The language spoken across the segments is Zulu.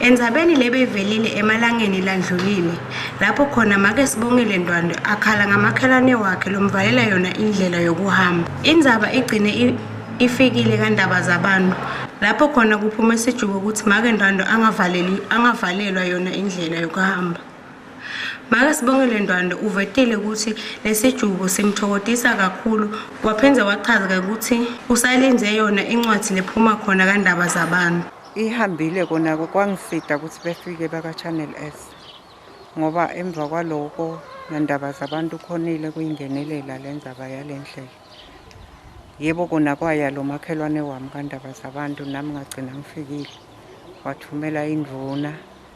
Endzabeni lebeyivelile emalangeni landlulile, lapho khona make Sibongile Ndwandwe akhala ngamakhelwane wakhe lomvalela yona indlela yokuhamba. Indzaba igcine ifikile kandaba zabantu, lapho khona kuphume sijubo ukuthi make Ndwandwe angavaleli angavalelwa yona indlela yokuhamba. Make Sibongile Ndwandwe uvetile ukuthi lesijubo simthokodisa kakhulu waphinde wachaza ukuthi usalinze yona incwadi lephuma khona kandaba zabantu. Ihambile kona kwangifida ukuthi befike baka-Channel S ngoba emva kwaloko nendaba zabantu khonile kuyingenelela le ndaba yale ndlela. Yebo kona kwaya lo makhelwane wami kandaba zabantu nami ngagcina ngifikile wathumela indvuna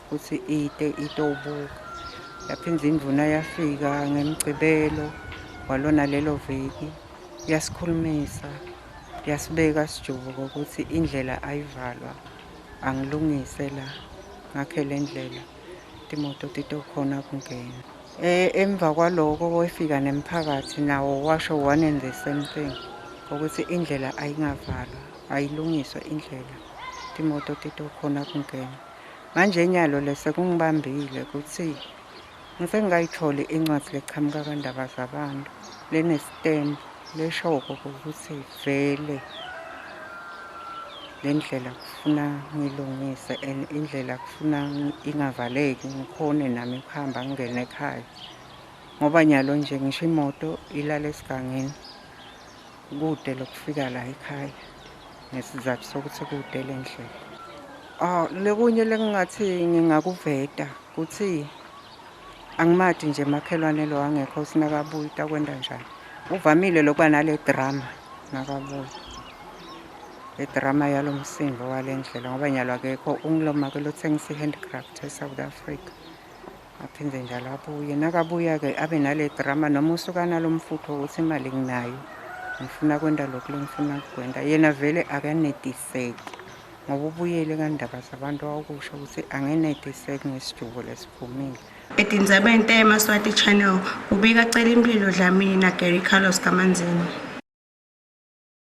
ukuthi ite itowubuka yaphinde indvuna yafika ngemgcibelo walona lelo viki yasikhulumisa Ngiyasibeka sijubuka ukuthi indlela ayivalwa angilungise la ngakhe le ndlela timoto titokhona kungena e, emva kwaloko wefika nemphakathi nawo washo one and the same thing ukuthi indlela ayingavalwa ayilungiswe indlela timoto titokhona kungena manje inyalo lese kungibambile ukuthi Ngise ngayitholi incwadi leqhamuka kandaba zabantu lenestembu leshoko ukuthi vele le ndlela kufuna ngilungise and indlela kufuna ingavaleki ngikhone nami ukuhamba ngingene ekhaya ngoba nyalo nje ngisho imoto ilala esigangeni Kude lokufika la ekhaya ngesizathu sokuthi kude le ndlela. Ah, lekunye lekungathi ngingakuveta ukuthi angimathi nje makhelwane lo angekho sinakabuyi takwenda njani. Uvamile lokuba nale drama nakabuyi. Le drama yalo msindo wale ndlela ngoba nyalo akekho ungiloma ke lothengisa i-handcraft e-South Africa. aphinde njalo abuye nakabuya-ke abe nale drama noma usuka nalo mfutho ukuthi imali nginayo ngifuna kwenta lokhu lengifuna kukwenta yena vele akanetiseki ngoba ubuyele kandaba zabantu wakusho ukuthi angenetiseki ngesijubo lesiphumile edinzebe into yemaswati channel ubika cela impilo dlamini nagary carlos kamanzini